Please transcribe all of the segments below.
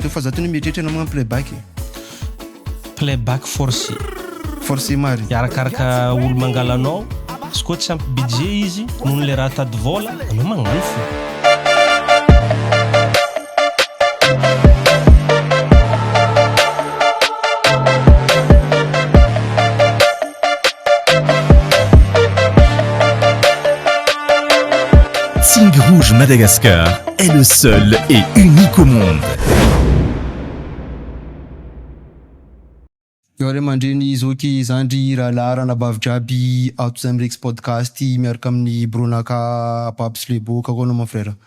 Toa fa za tony mieritreritra na magnano playback e. Playback forcé. Forcé marigny. Arakaraka olo mangala anao, izy koa tsy ampy budget izy noho le raha tady vola, anao magnano fô. Sing Rouge Madagascar est le seul et unique au monde. Eo ray aman-dreny zoky zandry rahalahy ranabavy jiaby ato izay mirex podcast miaraka amin'ny bronaka Babs le beau, kako anao mon frère.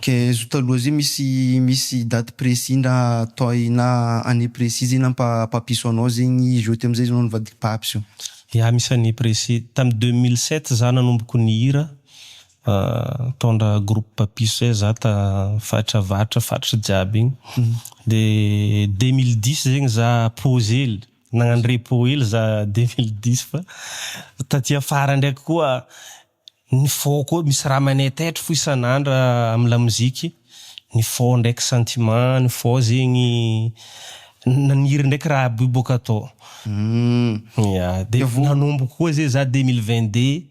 Kay zo taloha zay misy misy date précis ndra toy na année précis zay nampa papiso anao zegny izy oty amizay anao nivadiky papiso. Ya misy année précis, tam deux mille sept za nanomboko nihira nitondra groupe papiso zay za ta faritra avaratra faritry jiaby igny de deux mille dix zegny za pause hely nagnano repos hely za deux mille dix fa taty afara ndraiky koa Ny faux koa misy raha manay taitra fo isan'andro amin'ny lamoziky, ny faux ndraiky sentiment, ny faux zegny naniry ndraiky raha aby io boka tao. Ya, dia nanomboka koa zay za deux mille vingt deux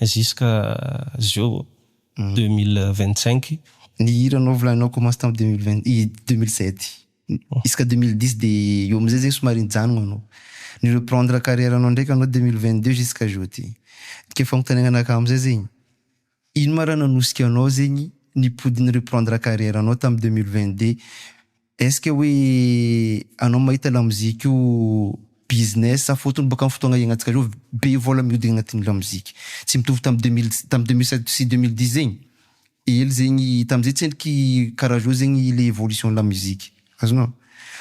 jusqu'à zao deux mille vingt cinq. Ny hira anao volaninao commence tamin'ny deux mille vingt deux mille sept. Isaka deux mille dix de eo amizay zegny somary nijanogna anao. Ni reprendre carrière anao ndraiky anao deux mille vingt deux jusqu'à jeudi. Ke fagnontaniagna anakahy amizay zegny, ino ma ra nanosika anao zegny nipody ni reprendre carrière anao tam deux mille vingt deux? Est ce que hoe anao mahita lamoziky io business sa fôtony bôka am fotoagna iaignantsika zao be vôla mihodigny agnatin'ny lamoziky. Tsy mitovy tam deux mille tam deux mille sept sy deux mille dix zegny. Ely zegny tamzay tsendriky karaha zao zegny le evolution la musique azonao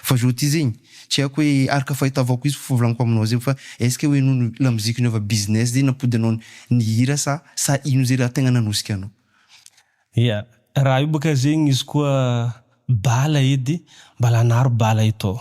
fa zao ty zegny tsy haiko hoe araka fahitavako izy fivolagniko aminao zegny fa est ce que hoe nohony la musique niova business zay nampody anao ny hira sa sa ino zay raha tegna nanosika anao. Ia raha io boka zegny izy koa bala edy mba lanaro bala eto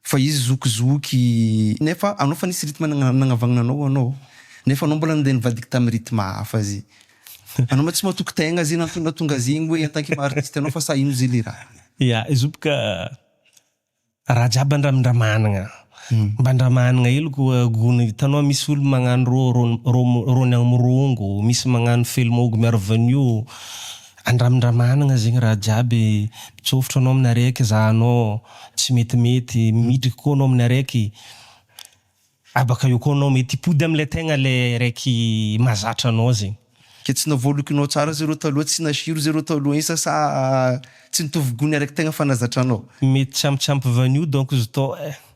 Fa izy zoky zoky nefa anao fa nisy rythme nagnavagnana anao anao nefa anao mbola nandeha nivadika tamin'ny rythme hafa zay. Anao ma tsy matoky tegna zay nahatonga azy igny hoe en tant que maha artiste anao fa sa ino zay le raha. Ya, izy io boka raha jiaby andramindramànagna, mba andramànagna hely koa gony, hitanao misy olo magnano rô, rôny rôny agny mirongo, misy magnano fely mahogo miaro vanio, Andramindramanagna zegny raha jiaby mitsôfotro anao aminy araiky ezahanao tsy metimety midriky koa anao aminy araiky abaka eo koa anao mety hipody amle tegna le raiky mazatra anao zegny. Ke tsy navoalokinao tsara ze reo taloha tsy nasiro ze reo taloha isa sa tsy nitovy gony araiky tegna fa nazatranao. Mety tsy ampy tsy ampy vanio donc ztô eh.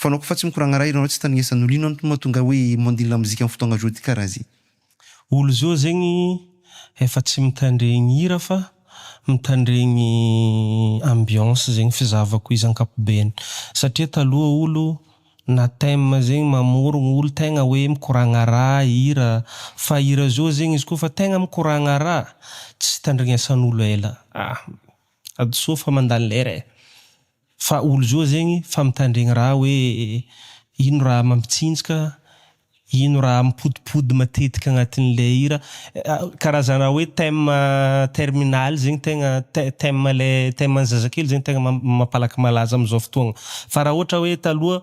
Fanaoko fa tsy mikoragna raha ianao tsy tandrignesa nolo ino antony mahatonga hoe mandily lamozika am fotoagna zao ty karaha ze. Olo zao zegny efa tsy mitandregny hira fa mitandregny ambiance zegny fizahavako izy ankapobeny satria taloha olo na thème zegny mamorogno olo tegna hoe mikoragna raha hira fa hira zao zegny izy kôfa tegna mikoragna raha tsy tandrignesan'olo ela ah hadisoa fa mandany lera e. Fa olo zo zegny fa mitandregny raha hoe ino raha mampitsinjka, ino raha mipodipody matetika agnatin'ny le hira. Karazana hoe thème terminal zegny tegna thème le thème an'ny zazakely zegny tegna mampalaky malaza amizao fotoagna. Fa raha ohatra hoe taloha.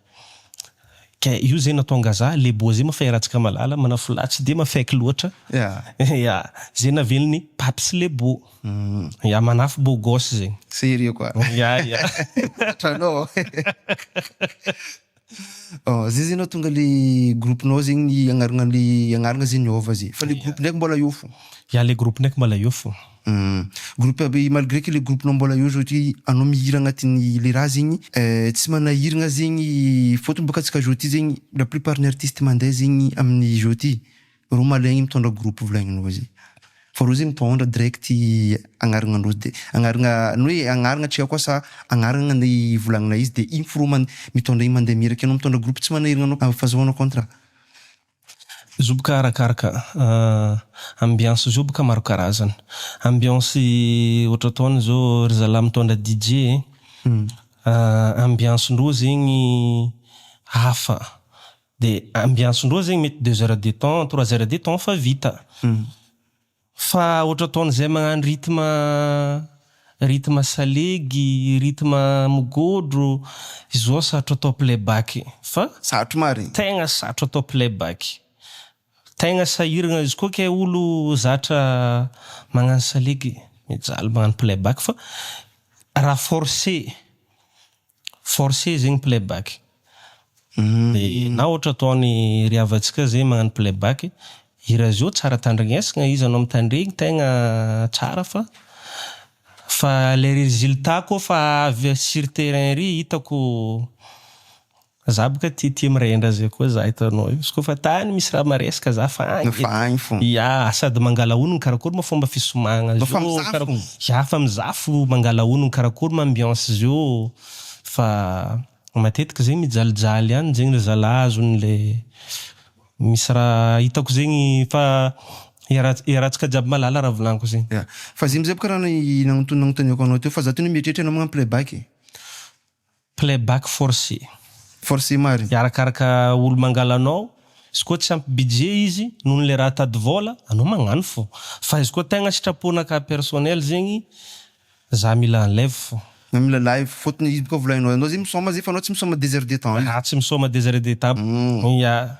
Ka io zay natonga za le boise mafay ratsika malala manafo lahy tsy de mafaiky loatra ya zay navelony paty sy le bo ya manafo beau gosse zay Sérieux quoi ya ya Tratranao an Oh zay zay natonga le groupe nao zegny ny agnarana le agnarana zay niova zay fa le groupe ndraiky mbola eo fo ya le groupe ndraiky mbola eo fo. Humm. Groupe aby e malgré que le groupe nao mbola eo zao ty anao mihira agnatin'ny le raha zegny eh tsy manahiragna zegny fôtony bôka antsika zao ty zegny la plupart ny artiste mandeha zegny amin'ny zao ty rô malaigny mitôndra groupe volagninao zay fa rô zegny mitôndra direct agnaragnandrô de agnaragna ny hoe agnaragna antsika koa sa agnaragna ny volagninay izy de igny fô rô man- mitôndra igny mandeha miraka anao mitôndra groupe tsy manahiragna anao fa azahoanao contrat. Zoboka arakaraka ambiance zoboka maro karazana. Ambiance ohatra ataony izao ry zalahy mitondra DJ e, ambiance ndreo zegny hafa dia ambiance ndreo zegny mety deux heures de temps, trois heures de temps fa vita. Fa ohatra ataon'izay magnano rythme rythme salegy, rythme mogodro, izao sarotro atao playback fa Sarotro marigny. tegna sarotro atao playback. Tegna sahiragna izy koa kay olo zatra magnano salegy mijaly magnano playback fa raha forcer Force zegny playback. Na ohatra ataony ry havantsika zay magnano playback, hira zao tsara tandrignesagna izy anao mitandregny tegna tsara fa fa le résultat koa fa avy sur terrain ery hitako Za boka tia tia mirendra zay koa za hitanao io. Izy koa fa tany misy raha maresaka za fa any. Fa any fo. Ya, sady mangala onony karakory ma fomba fisomagna zio. Fa mizaha fo. Ya, fa mizaha fo, mangala onony karakory ma ambiance zio. Fa matetika zegny mijalijaly any zegny ry zalahy azony le misy raha hitako zegny fa iaraha iarahantsika jiaby malala raha volaniko zegny. Ya, fa zay amizay boka raha ny nagnontony nagnontaniako anao teo fa za tena mieritreritra anao magnano playback e. Playback forcé. Forcé marina. Dia arakaraka olo mangala anao, izy koa tsy ampy budget izy noho ny le raha tady vola, anao magnano fô. Fa izy koa tegna sitrapona cas personnel zegny, za mila en live fô. Za mila live, fôtony izy koa volagnao, anao zegny misôma zay fa anao tsy misôma deux heures de temps io. Za tsy misôma deux heures de temps, ya.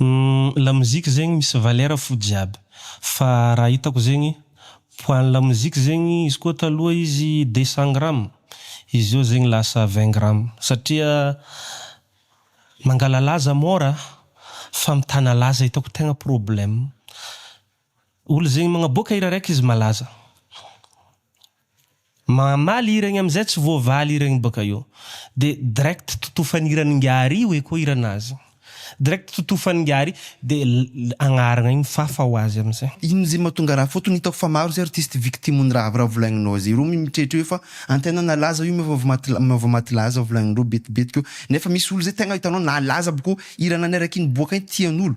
Humm la musique zegny misy valeur fo jiaby fa raha hitako zegny poids ny la musique zegny izy koa taloha izy deux cent gram izy zao zegny lasa vingt gram satria mangalalaza mora fa mitana laza hitako tegna problème. Olo zegny magnaboaka hira raiky izy malaza mamaly hira igny amizay tsy voavaly hira igny bôka eo de direct totofany hiran'ingahy oe koa hiranazy direct totofany ingahy de agnaragna igny fafa ho azy amizay. Ino ze mahatonga raha fotony hitako fa maro ze artiste victime ny raha avy raha volagninao ze ro mimitretra eo fa antenaina laza io meva vao meva maty laza volagninreo betibetiky eo nefa misy olo ze tegna hitanao nalaza aby ko hira naneraky iny boaka iny tianolo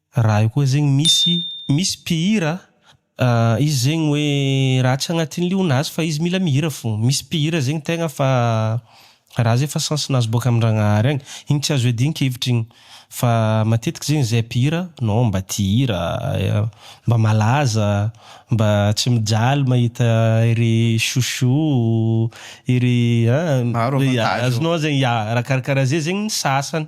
Raha io koa zegny misy misy mpihira a, izy zegny hoe raha tsy agnatin'ny lionazy fa izy mila mihira fô, misy mpihira zegny tegna fa raha zay fa sens-nazy boaka amin-dragnahary agny, igny tsy azo iadian-kevitra igny, fa matetiky zegny zay mpihira non mba tia hira, mba malaza, mba tsy mijaly mahita ery chouchou ery a, azonao zegny, ya raha karakaraha zay zegny ny sasany.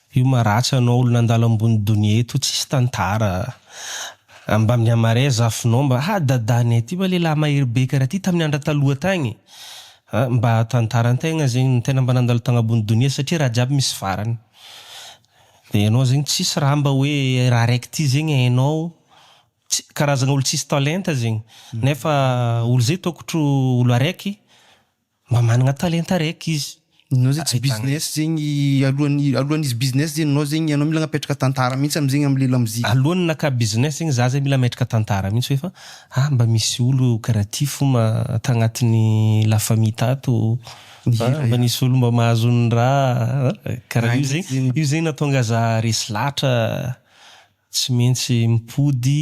Io maratsy anao olo nandalo ambony donia eto tsisy tantara a! Mba mihamarea zafinao mba ha dadanay ty va lehilahy mahery be karaha ty tamin'ny andra taloha tagny a! Mba tantara antegna zegny ny tegna mba nandalo tagnabony donia satria raha jiaby misy farany de enao zegny tsisy raha mba hoe raha raiky ty zegny hainao tsy karazagna olo tsisy talenta zegny nefa olo zay tokotro olo araiky Mba managna talenta raiky izy. Enao zegny tsy business zegny alohan'ny alohan'ny izy business zegny enao zegny enao mila agnapetraka tantara mintsy amzegny amle lamozika. Alohan'ny naka business zegny za zay mila ametraka tantara mintsy hoe fa ah mba misy olo karaha ty fo ma tagnatin'ny la famille tato fa mba nisy olo mba mahazo ny raha ah karaha io zegny io zegny natonga za resy latra tsy mentsy mipody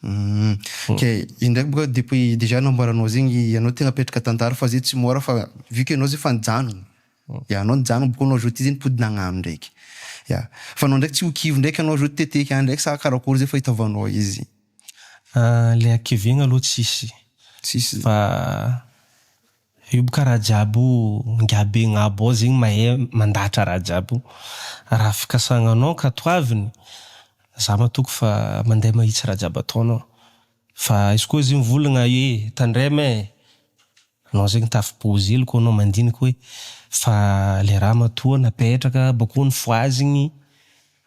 Humm kay izy ndraiky boka depuis dejà nambaranao zegny ianao tegna apetraka tantara fa zay tsy môra fa vu que ianao zay fa nijanogno ya anao nijanogno boka anao zao ty zay nipody nagnano ndraiky ya fa anao ndraiky tsy ho kivy ndraiky anao zao teteky any ndraiky sa karakory zay fahitavagnao izy. Ah le hakivegna aloha tsisy fa. Io boka Rajab io ngah be ngabo ao zegny mahay mandahatra Rajab io raha fikasagnanao ka toaviny za matoky fa mandeha mahitsy Rajab ataonao fa izy koa izy mivolagna hoe tandrema e anao zegny tafibozy hely koa anao mandinika hoe fa le raha matoa napetraka bakony foazigny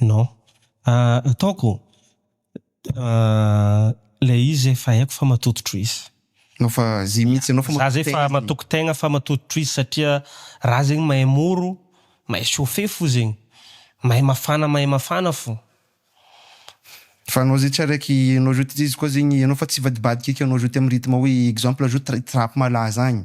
Non. Ataoko ilay izy efa haiko fa matototro izy. Anao fa zay mihitsy anao fa matoko tegna. Za zay fa matoko tegna fa matototro izy satria ra zegny mahay moro, mahay chauffer fo zegny. Mahay mafana mahay mafana fo. Fa anao zay tsy araiky anao jouter izy koa zegny anao fa tsy hivadibadika eky anao jouter am rythme hoe exemple jouter trap malaza agny.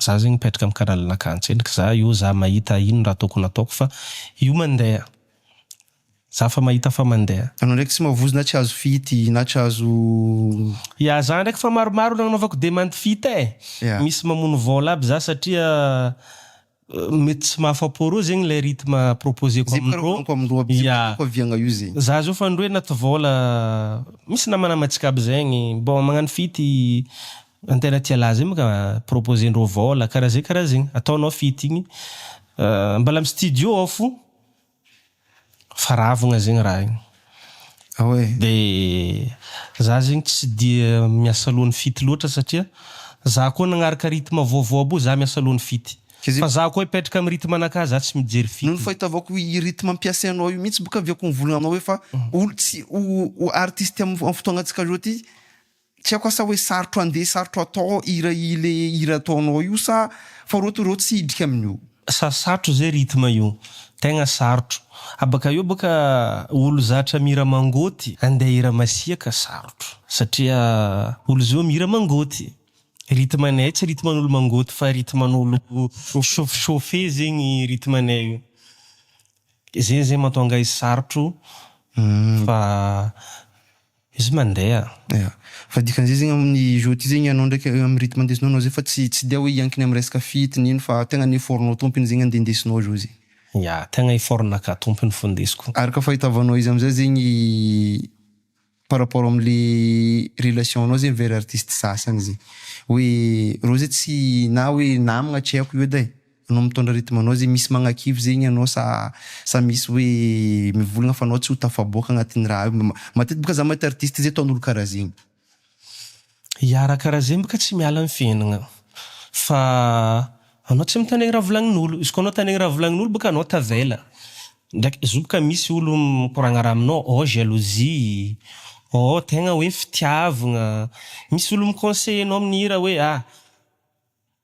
Za zegny mipetraka am canal nakà antselika za io za mahita ino raha tokony ataoko fa io mandeha za fa mahita fa mandeha. Anao ndraiky tsy mavozo na tsy azo fihity na tsy azo. Ya za ndraiky fa maromaro nagnanovako demande fihita e! Ya. Misy mamono vôla aby za satria. Mety tsy mahafa-po roa zegny ilay rythme proposer-ko amin'ny roa. Amiko amin'ny roa aby zegny tiako aviagna io zegny. Za zao fa ny roe anaty vôla, misy namanamatsika aby zegny, bon magnano feat i Antera Tia Lahy zay maka proposer-ndreo vôla karaha zay karaha zegny, ataonao feat igny, mbala amin'ny studio ao fo Fa ravigna zegny raha igny. Ah ouais. De za zegny tsy dia miasa alohan'ny fito loatra satria za koa nagnaraka rythme vaovao aby io za miasa alohan'ny fito. Fa za koa hipetraka amin'ny rythme anakahy za tsy mijery fito. Noho ny fahitavako i rythme ampiasainao io mihitsy boka avy akoa ny volana anao hoe fa olo tsy ho artiste amin'ny fotoagna antsika zao ty Tsy haiko asa hoe sarotro andeha sarotro atao hira ilay hira ataonao io sa fa reo to reo tsy hidrika amin'io. Sarosarotro zay rythme io. Tegna sarotro. Abaka eo bôka olo zatra mihira mangôty andeha hira masiaka sarotro. Satria olo zao mihira mangôty. Rythme anay tsy rythme an'olo mangôty fa rythme an'olo mi-chauffe chauffe zegny rythme anay io. Zay zegny mahatonga azy sarotro fa. Izy mandeha. Ya. Fa dikan'izay zegny amin'ny jeux ty zegny anao ndraiky amin'ny rythme ndesinao anao zay fa tsy tsy dia hoe hiankina amin'ny resaka feat ny ino fa tegna ny effort-nao tompiny zegny andeha ndesinao jeux e. Ya, tegna effort-naka tompiny fo ndesiko. Araka fahitavanao izy amizay zegny par rapport amle relation nao zegny vers artiste sasany zegny hoe reo zay tsy na hoe namagna tsy haiko io edy ai. Anao mitondra rythme anao zay misy magnakivy zegny anao sa sa misy hoe mivolagna fa anao tsy ho tafaboaka agnatin'ny raha io. Matetiky boka za mahita artiste zay ataon'olo karaha zegny. Ya raha karaha zegny boka tsy miala ny fiaignagna fa anao tsy mitandregny raha volagnin'olo. Izy koa anao tandregny raha volagnin'olo boka anao tavela. Ndraiky zo boka misy olo mikoragna raha aminao oh jalousie oh tegna hoe fitiavagna. Misy olo mi conseiller anao amin'ny hira hoe ah.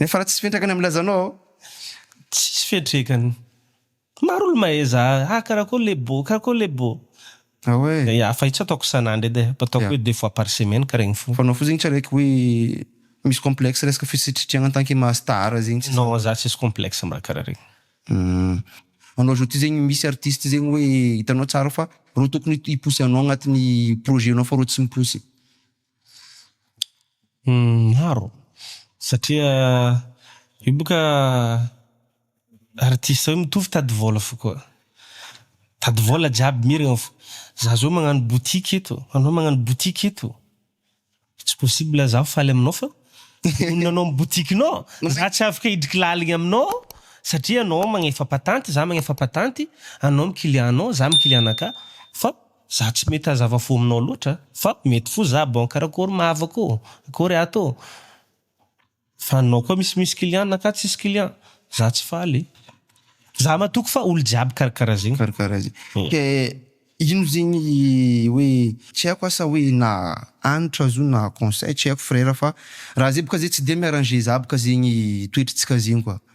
Nefa raha tsisy fetrakany amin'ny lazanao aho. Tsisy fetrekany. Maro olo mahaiza ah karakôry le bô karakôry le bô. Ah ouais. Dia hafa itsy ataoko isan'andro edy eh, ataoko hoe deux fois par semaine karaha igny fô. Fa anao fo zegny tsy araiky hoe misy complexe resaka fisitritriagna en tant que maha star zegny tsy. Non za tsisy complexe mba karaha regny. Hum. Anao zao ty zegny misy artiste zegny hoe hitanao tsara fa reo tokony hi pousse anao agnatin'ny projet nao fa reo tsy mi pousse. Maro satria io boka artiste io mitovy tady vôla fo koa, tady vôla jiaby miragna fo, za zao magnano boutique eto, anao magnano boutique eto, tsy possible zaho faly aminao fa monina anao amin'ny boutique nao, za tsy afaka hidriky laligny aminao satria anao magnefa patenty, za magnefa patenty, anao am client nao, za am client anakahy fa. Za tsy mety hazava fo aminao loatra fa mety fo za bon karakory ma havako ô akory ato ô fa anao koa misy misy client na ka tsisy client za tsy faly za matoky fa olo jiaby karakara zegny karakara zegny ke ino zegny hoe tsy haiko asa hoe na hanitra zo na conseil tsy haiko frera fa raha zay boka zay tsy de mi arranger za boka zegny toetry tsika zegny koa.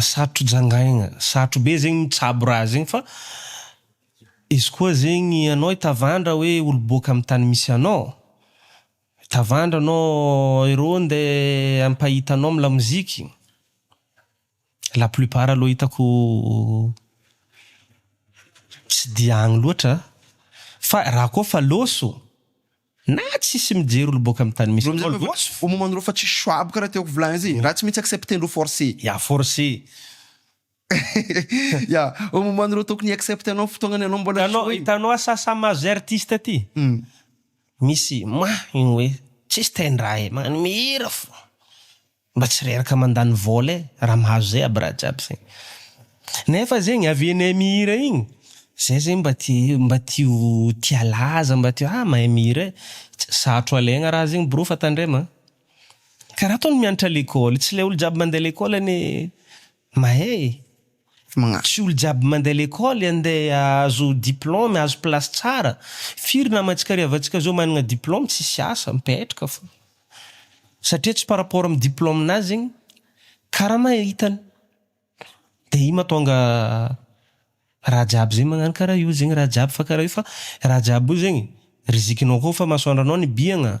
Sarotro jangaina, sarotro be zegny mitsabo raha zegny fa izy koa zegny anao i tavandra hoe olo boaka amy tany misy anao tavandra anao ero nde ampahita anao amy lamoziky la plupart aloha hitako tsy dia agny loatra fa raha koa fa loso Na tsisy mijery olo boka am tany misy anao loatra fa. Au moment nareo fa tsisy choix aby karaha tiako volagny azy e, raha tsy maintsy accepter-ndreo forcé. Ya forcé. Ya, au moment nareo tokony hi-accepter anao am fotoagnany anao mbola tsisy hoe. Hitanao asasa maso zay artiste ty, misy mah igny hoe tsisy tendra e, magnano mihira fô. Mba tsy reraka mandany vola e raha mahazo zay aby raha jiaby zay nefa zegny avy enay mihira igny zay zegny mba te mba te ho te halaza mba te ah mahay mihira e tsy sarotro alaigna raha zegny brô fa tandrema a karaha ataony mianatra lekôly tsy le olo jiaby mandeha lekôly anie Mahé e! Tsy olo jiaby mandeha lekôly andeha ahazo diplôme, ahazo place tsara. Firy nama tsika rehavantsika zao managna diplôme tsisy asa, mipetraka fô. Satria tsy par rapport am diplôme nazy zegny karama hitany. De io mahatonga raha jiaby zay magnano kara io zegny raha jiaby fa kara io fa raha jiaby io zegny rizikinao koa fa masoandranao nibihagna.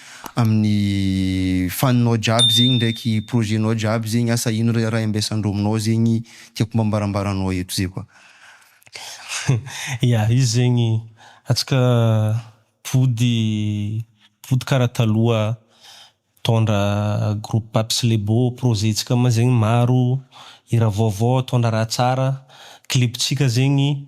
amin'ny faninao jiaby zegny ndraiky projet-nao jiaby zegny asa ino re raha iambesan-dreo aminao zegny tiako mba ambarambaranao eto zay koa. Ya, izy zegny antsika mpivody mpivody karaha taloha mitondra groupe Paps Lebo, projet-tsika moa zegny maro, hira vaovao, mitondra raha tsara, clip-tsika zegny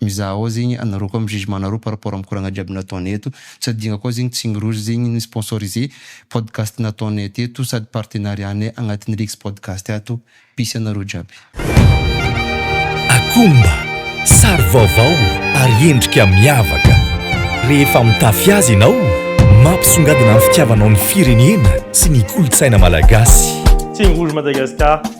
Mizaha ao zegny anareo koa am jugement nareo par rapport am koragna jiaby nataonay eto, tsy adinga koa zegny Tsigny Rouge zegny ni sponsoriser podcast nataonay teto sady partenariat nay agnatin'ny Lex podcast ato, peace anareo jiaby. Akomba, sary vaovao ary endrika miavaka. Rehefa mitafy azy ianao, mampisongadina ny fitiavanao ny firenena sy ny kolontsaina malagasy. Tsigny Rouge Madagascar.